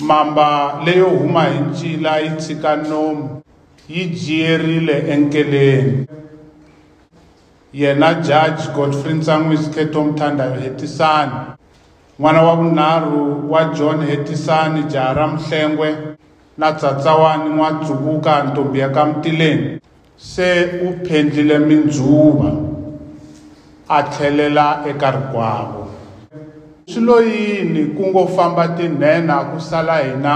Mamba leyo huma hi ncila yi tshika nomu yi jiyerile enkeleni. Yena Judge Godfrey Ntsan'wisi Ketom Thandayo Hetisani, n'wana wa vunharhu wa John Hetisani jaha ra Muhlengwe na Tsatsawani N'watsuvuka ntombi ya ka Mutileni, Se u phendlile mindzuva, a tlhelela eka rikwavo. Swi lo yini ku ngo famba tinhenha ku sala hina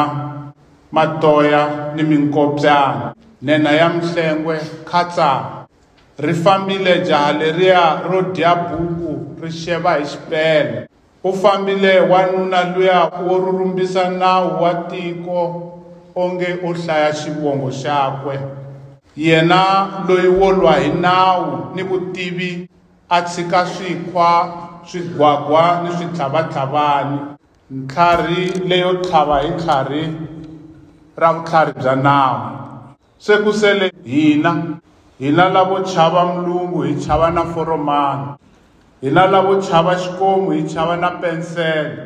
matoya ni minkopyana? Nhenha ya Mhlengwe, Khatsa! Ri fambile jaha leriya ro dya buku ri xeva hi xipele. Ku fambile wanuna luya wo rhurumbisa nawu wa tiko onge u hlaya xivongo xakwe. Yena loyi wo lwa hi nawu ni vutivi a tshika swikhwa, swigwagwa ni switlhavatlhavani. Ntlharhi leyo tlhava hi tlharhi ra vutlhari bya nawu. Se ku sele hina, hina lavo chava mlungu hi chava na foromani, hina lavo chava xikomu hi chava na pensele.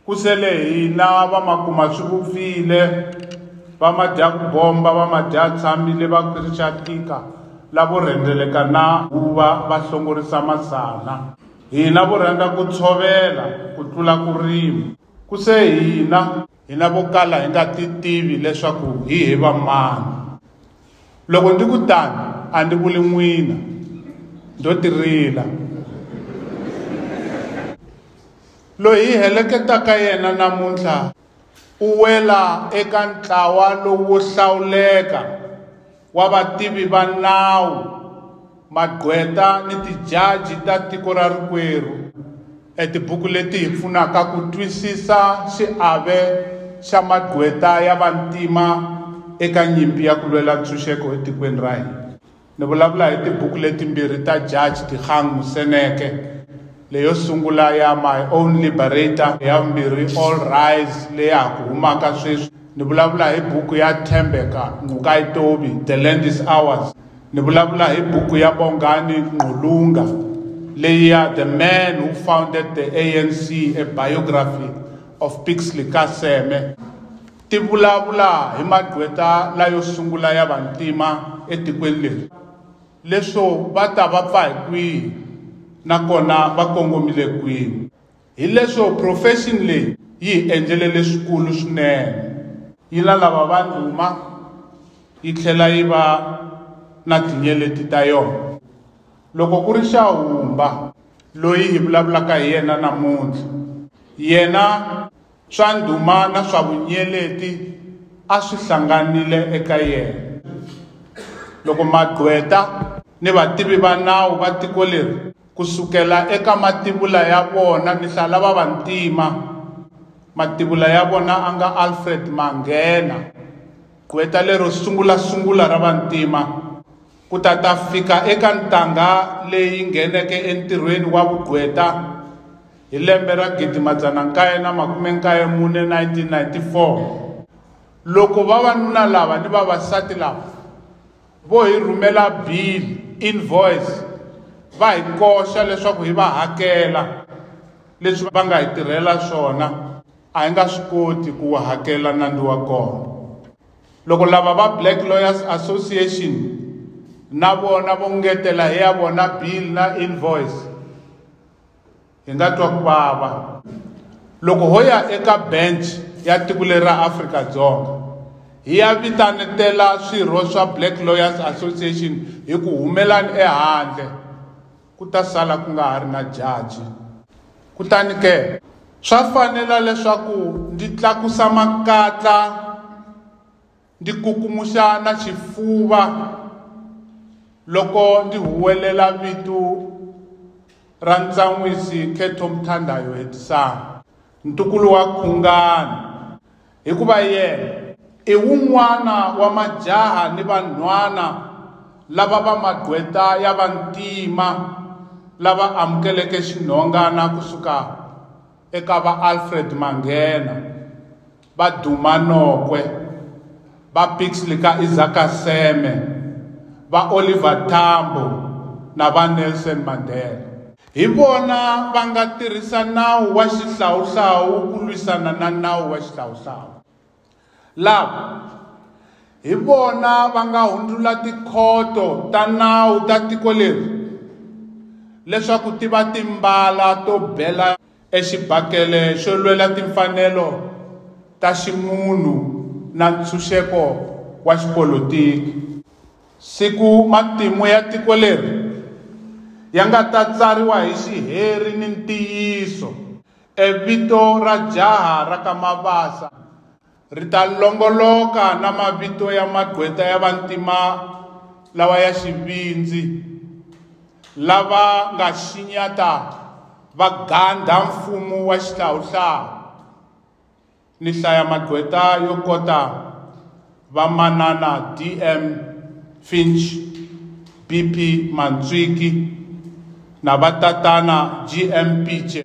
Ku sele hina vamakumaswivupfile, vamadyakubomba, vamadyatshamile, vakhirixatika, lavo rhendzeleka na huva, vahlongorisa masana. Hina vo rhandza ku tshovela ku tlula ku rima. Ku se hina, hi na vo kala hi nga ti tivi leswaku hi hi va mani loko ndi ku tani a ndi vuli n'wina ndo tirila loyi hi heleketaka yena namuntlha u wela eka ntlawa lowu hlawuleka wa vativi va nawu, magqweta ni tijaji ta tiko ra rikwerhu e tibuku leti hi pfunaka ku twisisa xiave xa magqweta ya vantima eka nyimpi ya ku lwela ntshunxeko etikweni ra hina. Ni vulavula hi tibuku letimbirhi ta Jaji Dikgang Moseneke, leyo sungula ya My Own Liberator, ya vumbirhi All Rise leya ha ku humaka sweswi. ni vulavula hi buku ya Thembeka Nqukai Tobi, The Land is Ours. Ni vulavula hi buku ya Bongani Nqulunga leyi ya The Man Who Founded the ANC, A Biography of Pixley ka Seme. Ti vulavula hi magqweta layo sungula ya vantima etikweni leri, leswo va ta va pfa hi kwihi nakona va kongomile kwihi. Hileswo profession leyi yi hi endlele leswikulu swinene. Yi na lava va ndhuma yi tlhela yi va na tinyeleti ta yona. Loko ku ri Xahumba loyi hi vulavulaka hi yena namuntlha, yena Swa ndhuma na swa vunyeleti a swi hlanganile eka yena. Loko magqweta. Ni vativi va nawu va tiko leri, ku sukela eka mativula ya vona ni hlaya lava vantima, mativula ya vona a nga Alfred Mangena, gqweta lero sungula-sungula ra vantima, ku ta ta fika eka ntangha leyi ngheneke entirhweni wa vugqweta Hi lembe ra 1994, 1994, loko vavanuna lava ni vavasati lava vo hi rhumela bill, invoice, va hi koxa leswaku hi va hakela leswi va nga hi tirhela swona a hi nga swi koti ku wu hakela nandzu wa kona loko lava va black lawyers association na vona vo ngetela hi ya vona bill na invoice hi nga twa ku vava loko ho ya eka bench ya tiko leri ra afrika-dzonga hi ya vitanetela swirho swa black lawyers association hi ku humelani ehandle ku ta sala ku nga ha ri na jaji kutani ke swa fanela leswaku ndzi tlakusa makatla ndzi kukumuxa na xifuva loko ndzi huwelela vito ra ntsan'wisi khetho mthandayo hetisana ntukulu wa khungani hikuva yena i wun'wana wa majaha ni vanhwana lava va magqweta ya vantima lava amukeleke xinhongana kusuka eka va alfred manghena va Duma Nokwe, va Pixley ka Isaka Seme, va Oliver Tambo na va Nelson Mandela. Hi vona va nga tirhisa nawu wa xihlawuhlawu ku lwisana na nawu wa xihlawuhlawu. Lava hi vona va nga hundzula tikhoto ta nawu ta tiko leri leswaku ti va timbala to bela Exibakele xo lwela timfanelo ta ximunhu na ntshunxeko wa xipolitiki. Siku matimu ya tiko leri ya nga ta tsariwa hi xiheri ni ntiyiso, e vito ra jaha ra ka Mabasa ri ta longoloka na mavito ya magqweta ya vantima lawa ya xivindzi lava nga xinyata va gandha mfumo wa xihlawuhlawu ni hlaya magqweta yo kota vamanana dm finch bp mantswiki na vatatana gm piche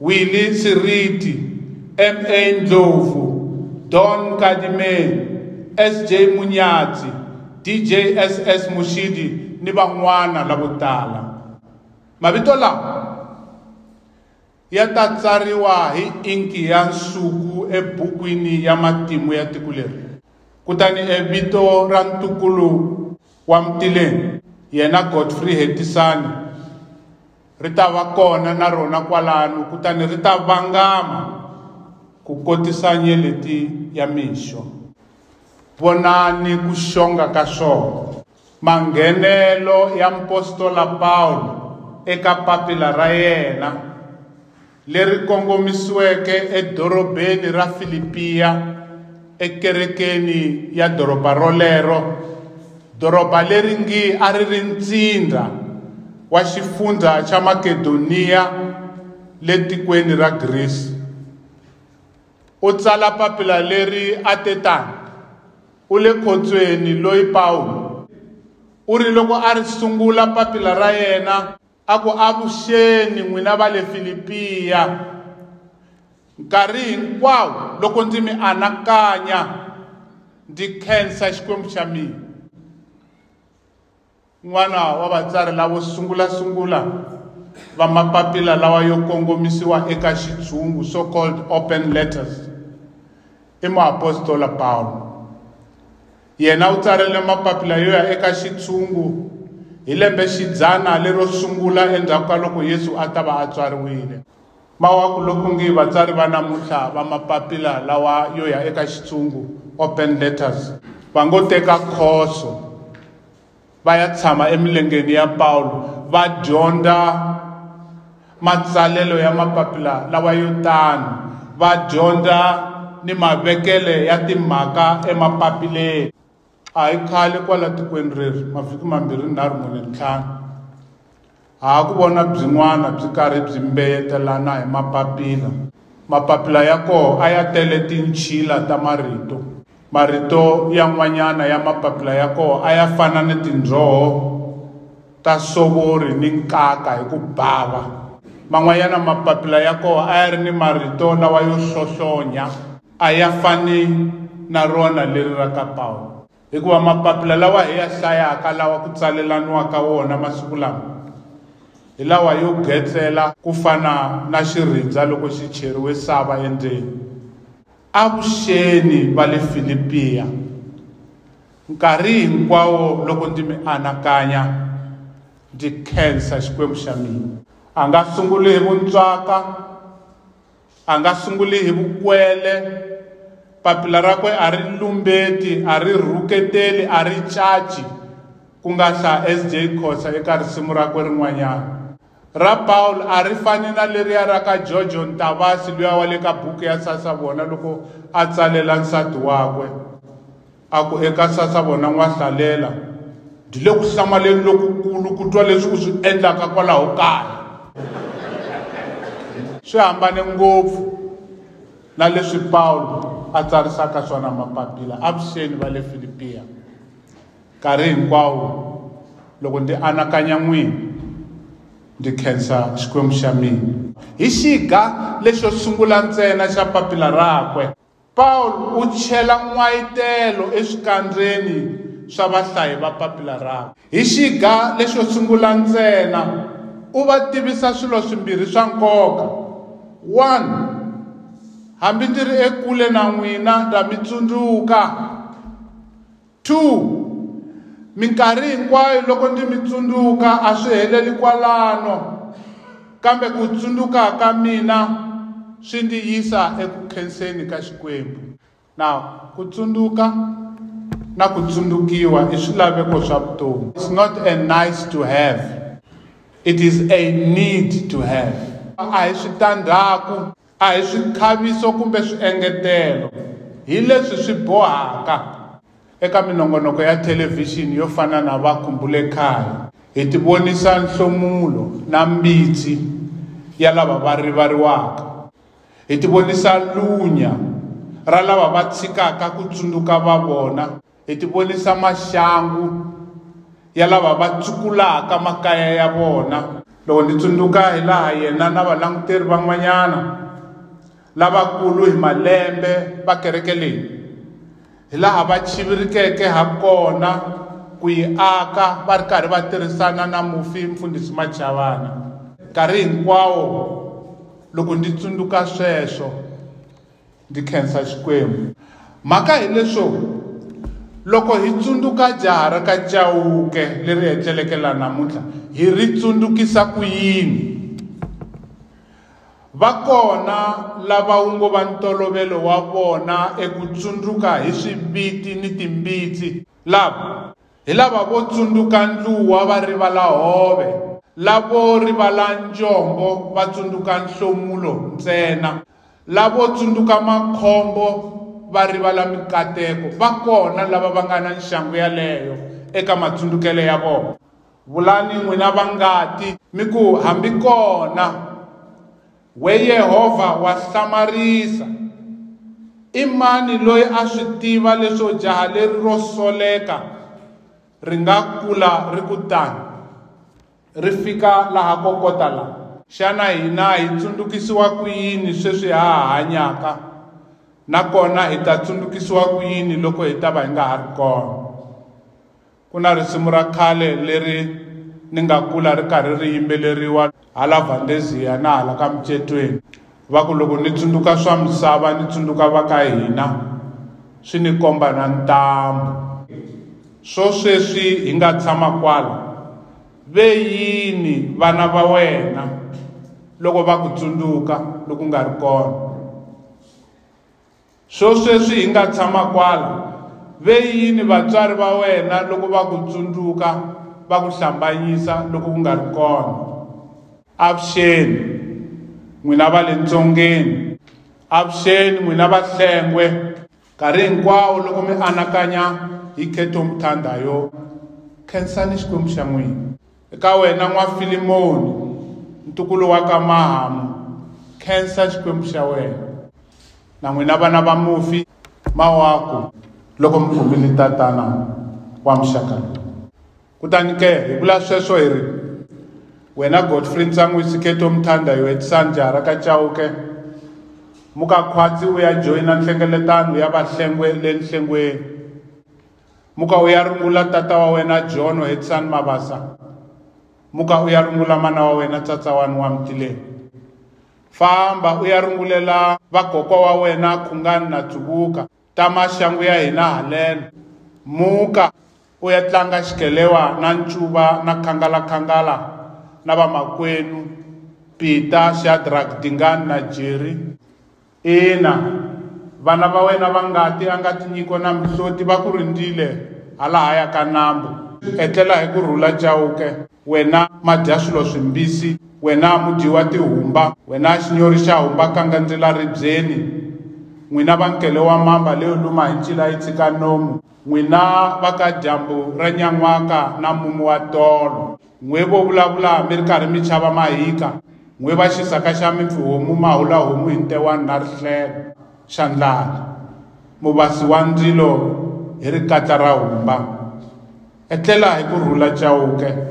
Willie Nsiriti, MA Ndlovu, Don Nkadime, SJ Munyatsi, DJ SS Mushidi ni van'wana lavo tala. Mavito lawa ya ta tsariwa hi inki ya nsuku ebukwini ya matimu ya tiko leri. Kutani evito ra ntukulu wa Mtileni, yena Godfrey Hetisani, Ri ta va kona na rona kwalano kutani ri ta vangama ku kotisa nyeleti ya mixo. Vonani ku xonga ka swona. Manghenelo ya mupostola Pawulo eka papila ra yena. leri kongomisiweke edorobeni ra Filipiya ekerekeni ya doroba rolero, doroba leri ngi a ri ri ntsindza wa xifundzha xa Makedoniya le tikweni ra Grisi. U tsala papila leri a te tani, U le khotsweni loyi Pawulo. U ri loko a ri sungula papila ra yena, a ku, Avuxeni n'wina va le Filipiya. Nkarhi hinkwawo loko ndzi mi anakanya, ndzi khensa Xikwembu xa mina. N'wana wa vatsari lavo sungula-sungula va mapapila lawa yo kongomisiwa eka Xitshungu, so-called open letters, i muapostola Pawulo. Yena u tsarile mapapila yo ya eka xitshungu hi lembe xidzana lero sungula endzhaku ka loko Yesu a ta va a tswariwile. Mawaku loku ngi vatsari va namuntlha va mapapila lawa yo ya eka xitshungu, open letters, va ngo teka khoso. va ya tshama emilengeni ya Pawulo va dyondza matsalelo ya mapapila lawa yo tano va dyondza ni mavekele ya timhaka emapapileni a hi khale kwala tikweni reri mavhiki mambirhi nharhu mune ntlhanu Ha ku vona byin'wana byi karhi byi mbeyetelana hi mapapila. Mapapila ya koho a ya tele tinchila ta marito. Marito yan'wanyana ya mapapila ya koho a ya fana ni tindzoho ta sovori ni nkaka hi ku bava. Man'wanyana mapapila ya koho a ya ri ni marito lawa yo hlohlonya, a ya fani na rona leri ra ka Pawulo. Hikuva mapapila lawa hi ya hlayaka lawa ku tsalelaniwaka wona masiku lama hi lawa yo getsela ku fana na xirindza loko xi cheriwe sava endzeni. Avuxeni va le Filipiya. Nkarhi hinkwawo loko ndzi mi anakanya, ndzi khensa Xikwembu xa mina. A nga sunguli hi vuntswaka, A nga sunguli hi vukwele, papila rakwe a ri lumbeti, a ri rhuketeli, a ri caci, ku nga hla SJ Khosa eka risimu rakwe rin'wanyana. Ra Paul a ri fani na leriya ra ka Jojo Ntavasi luya wa le ka buku ya Sasavona loko a tsalela nsati wakwe. A ku, Eka Sasavo na N'wahlalela, byi le ku hlamaleni lokukulu ku twa leswi u swi endlaka kwalaho kaya. Swi hambane ngopfu na leswi Pawulo a tsarisaka swona mapapila. Avuxeni va le Filipiya. Nkarhi hinkwawo loko ndzi anakanya n'wina, ndzi khensa Xikwembu xa mina. Hi xiga lexo sungula ntsena xa papila rakwe. Paul u chela n'wayitelo eswikandzeni swa vahlayi va papila rakwe. Hi xiga lexo sungula ntsena, u va tivisa swilo swimbirhi swa nkoka, One, hambi ndzi ri ekule na n'wina ndza mi tsundzuka. 2 Minkarhi hinkwayo loko ndzi mi tsundzuka a swi heleli kwalano, kambe ku tsundzuka ka mina swi ndzi yisa eku khenseni ka Xikwembu. Now, ku tsundzuka na ku tsundzukiwa i swilaveko swa vutomi. It's not a nice to have. It is a need to have. A hi switandzhaku A hi swikhaviso kumbe swiengetelo hi leswi swi bohaka. Eka minongonoko ya thelevhixini yo fana na Va Khumbule Khale, hi tivonisa nhlomulo na mbitsi ya lava va rivariwaka. Hi tivonisa lunya ra lava va tshikaka ku tsundzuka va vona. Hi tivonisa maxangu ya lava va tsukulaka makaya ya vona. Loko ndzi tsundzuka hilaha yena na valanguteri van'wanyana lavakulu hi malembe va kereke leyi hilaha va chivirikeke hakona ku yi aka va ri karhi va tirhisana na mufi Mfundhisi Machavana, nkarhi hinkwawo loko ndzi tsundzuka sweswo, Ndzi khensa Xikwembu. Mhaka hi leswo, loko hi tsundzuka jaha ra ka Chauke leri etleleke laha namuntlha, hi ri tsundzukisa ku yini? Va kona lava wu ngo va ntolovelo wa vona eku tsundzuka hi swiviti ni timbitsi. Lava. Hi lava vo tsundzuka ndluwa va rivala hove, lavo rivala njombo va tsundzuka nhlomulo ntsena, lavo tsundzuka makhombo va rivala mikateko. Va kona lava va nga na nxangu yaleyo eka matsundukelo ya vona. Vulani n'wina va ngati, mi ku, Hambi kona! We Yehovha wa hlamarisa! I mani loyi a swi tiva leswo jaha leri ro soleka ri nga kula ri ku tani, ri fika laha ko kota la? Xana hina hi tsundukisiwa ku yini sweswi ha ha hanyaka, nakona hi ta tsundukisiwa ku yini loko hi ta va hi nga ha ri kona? Ku na risimu ra khale leri ni nga kula ri karhi ri yimbeleriwa hala Valdezia na hala ka Mucetweni va ku loko ni tsundzuka swa misava ni tsundzuka va ka hina swi ni komba na ntambu swo sweswi hi nga tshama kwala ve yini vana va wena loko va ku tsundzuka loku nga ri kona Swosweswi hi nga tshama kwala, ve yini vatswari va wena loko va ku tsundzuka, va ku hlambanyisa loko u nga ri kona? Avuxeni, n'wina va le ntsongeni. Avuxeni, n'wina vahlengwe. Nkarhi hinkwawo loko mi anakanya hi Kheto Mthandha yo, khensani Xikwembu xa n'wina. Eka wena n'wafilimoni, ntukulu wa ka Mahamu, khensa xikwembu xa wena. Na n'wina vana va mufi, mawaku loko mi kumile tatana wa muxaka lowu. Kutani ke, hi vula sweswo hi ri, Wena Godfrey Ntsangwi Siketo Mthanda Yoetisani Jahara ka Chauke, muka khwatsi u ya joyina nhlengeletano ya vahlengwe le nhlengweni. muka u ya rungula tata wa wena jono hetisani mabasa muka u ya rungula mana wa wena tsatsawani wa mtileni famba u ya rungulela vakokwa wa wena khungani na dzuvuka ta maxangu ya hina haleno muka u ya tlanga xikelewa na ncuva na khangalakhangala na vamakwenu pita xadrak dingani na jeri Ina, vana va wena va ngati a nga tinyiko na mihloti va ku rindzile halahaya ka nambu. Etlela hi ku rhula Chauke, wena madyaswilo swimbisi, wena mudyi wa tihumba, wena xinyori xa humba kangandzela ribyeni, n'wina va nkele wa mamba leyo luma hi ncila yi tshika nomu, n'wina va ka dyambu ra nyan'waka na mumu wa tolo. N'we vo vulavula mi ri karhi mi chava mahika, n'we va xisaka xa mipfihomu ma hula homu hi ntewani na rihlelo xa ndlala, mu basi wa ndzilo hi rikatla ra humba. Etlela hi ku rhula Chauke!